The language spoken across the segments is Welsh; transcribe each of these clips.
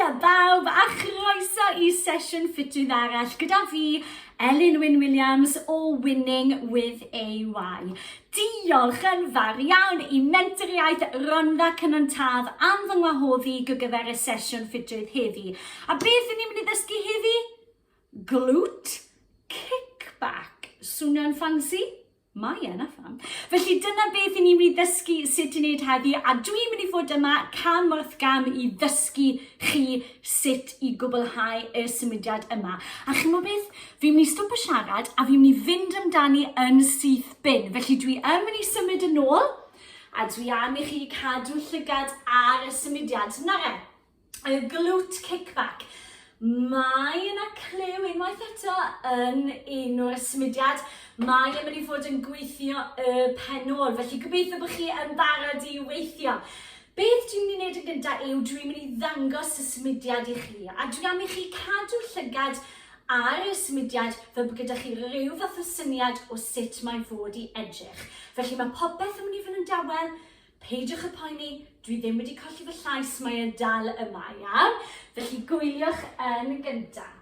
Haia bawb a chroeso i sesiwn ffitydd arall gyda fi, Elin Wyn Williams o Winning with AY. Diolch yn fawr iawn i Mentoriaeth Rhondda Cynon Taf am fy ngwahoddi i gyfer y sesiwn ffitrwydd heddi. A beth ni'n mynd i ddysgu heddi? Glwt kickback. Swnio'n ffansi? Mae yna ffam. Felly dyna beth i ni'n mynd i ddysgu sut i wneud heddi a dwi'n mynd i fod yma cam wrth gam i ddysgu chi sut i gwblhau y symudiad yma. A chi'n mynd beth? Fi'n mynd i stwp y siarad a fi'n mynd i fynd amdani yn syth bin. Felly dwi yn mynd i symud yn ôl a dwi am i chi cadw llygad ar y symudiad. Na fe? y glute kickback. Mae yna clyw unwaith eto yn un o'r symudiad. Mae yn mynd i fod yn gweithio y penol, felly gobeithio bod chi yn barod i weithio. Beth dwi'n mynd i wneud yn gyntaf yw dwi'n mynd i ddangos y symudiad i chi, a dwi am i chi cadw llygad ar y symudiad fel bod gyda chi rhyw fath o syniad o sut mae fod i edrych. Felly mae popeth yn mynd i fod yn dawel, Peidiwch â phoeni, dwi ddim wedi colli fy llais, mae e dal yma, iawn? Felly gwyliwch yn gyntaf.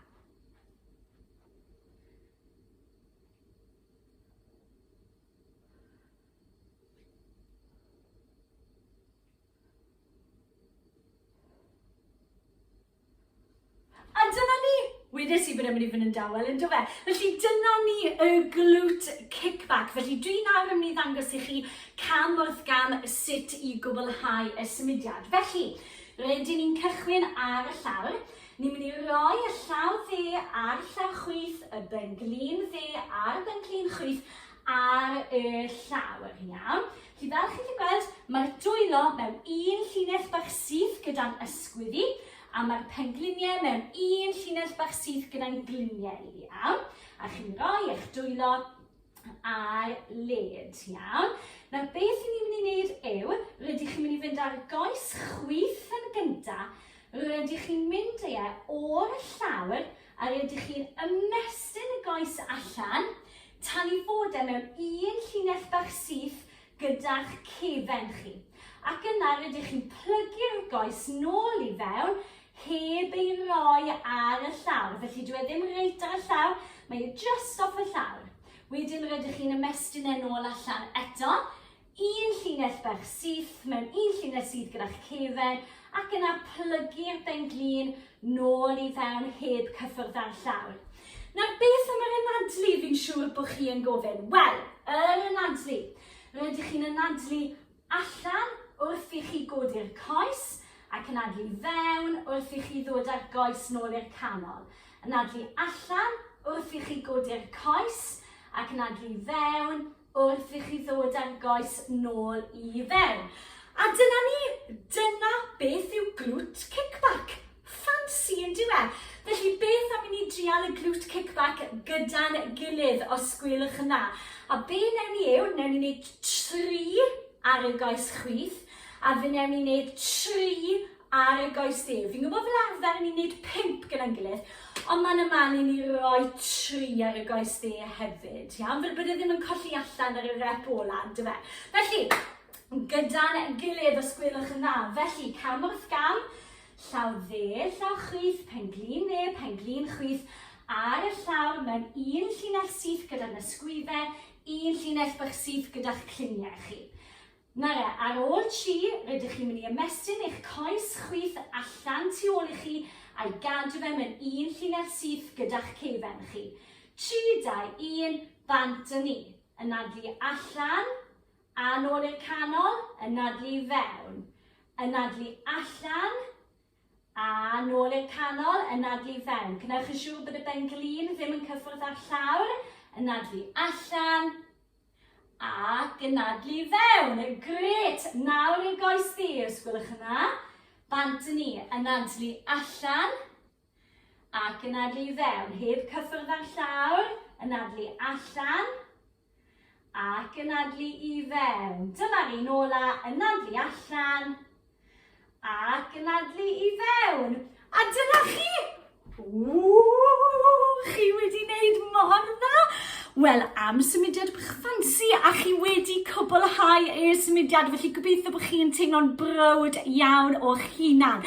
A dyna ni! Wedes i bod e'n mynd i fod yn dawel, yn dofe? Felly dyna ni y glute kickback. Felly dwi nawr yn mynd i ddangos i chi cam wrth gam sut i gwblhau y symudiad. Felly, rydyn ni'n cychwyn ar y llawr. Ni'n mynd i roi y llaw dde a'r llaw chwith, y benglin dde a'r benglin chwith ar y llawr. Iawn? Chi fel chi'n gallu gweld, mae'r dwylo mewn un llinell bach syth gyda'n ysgwyddi, a mae'r pengliniau mewn un llinell bach syth gyda'n gliniau i, iawn? A chi'n rhoi eich dwylo ar led, iawn? Nawr, beth i ni'n mynd i wneud yw, rydych chi'n mynd i fynd ar goes chwith yn gyntaf, rydych chi'n mynd e o'r llawr A ydych chi'n ymestyn y goes allan tan i fod e mewn un llinell bach syth gyda'ch cefen chi, ac yna rydych chi'n plygu'r goes nôl i fewn heb ei roi ar y llawr, felly dyw e ddim reit ar y llawr, mae e just off y llawr. Wedyn rydych chi'n ymestyn e nôl allan eto, Un llinell bach syth mewn un llinell syth gyda'ch cefen ac yna plygu'r ben-glin nôl i fewn heb cyffwrdd â'r llawr. Nawr, beth am yr anadlu fi'n siŵr bod chi yn gofyn? Wel, yr anadlu. Rydych chi'n anadlu allan wrth i chi godi'r coes ac anadlu fewn wrth i chi ddod â'r goes nôl i'r canol. Anadlu allan wrth i chi godi'r coes ac anadlu fewn wrth i chi ddod â'r goes nôl i fewn. A dyna ni, dyna beth yw glwt kickback. Ffansi yn diwe. Felly beth am i ni drial y glwt kickback gyda'n gilydd os gwylwch yn dda. A be newn ni yw, newn ni wneud tri ar y goes chwith a fe newn ni wneud tri ar y goesdir. Fi'n gwybod fel arfer yn ni'n gwneud pimp gyda'n gilydd, ond mae'n ymal i ni roi tri ar y goesdir hefyd, iawn? Fel bod e ddim yn colli allan ar y rep ola, dy fe? Felly, gyda'n gilydd os gwelwch yn dda. Felly, cam wrth gam, llaw dde, llaw chwith, pen glin dde, pen glin chwith, ar y llawr mewn un llinell syth gyda'r ysgwyddau, un llinell bach syth gyda'ch cliniau chi. Nara, ar ôl tri, rydych chi'n mynd i ymestyn eich coes chwith allan tu ôl i chi a'i gadw fe mewn un llinell syth gyda'ch ceifen chi. Tri, dau, un, bant â ni. Anadlu allan, a'n ôl i'r canol, anadlu i fewn. Anadlu allan, A nôl i'r canol, anadlu i fewn. Gwnewch yn siŵr bod y ben-glin ddim yn cyffwrdd â'r llawr. Anadlu allan. A gynadlu i fewn. Gret! Nawr i'r goes di, os gwelwch yn dda. Bant yn ni. Anadlu allan. A gynadlu i fewn. Heb cyffwrdd â'r llawr. Anadlu allan. ac yn adlu i fewn. Dyma'r un ola yn adlu allan ac yn adlu i fewn. A dyna chi! Ww, chi wedi wneud mor dda! Wel, am symudiad bych ffansi a chi wedi cwblhau eich symudiad, felly gobeithio bod chi'n teimlo'n brywd iawn o'ch hunan.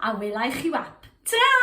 A wela i chi wap. Tara!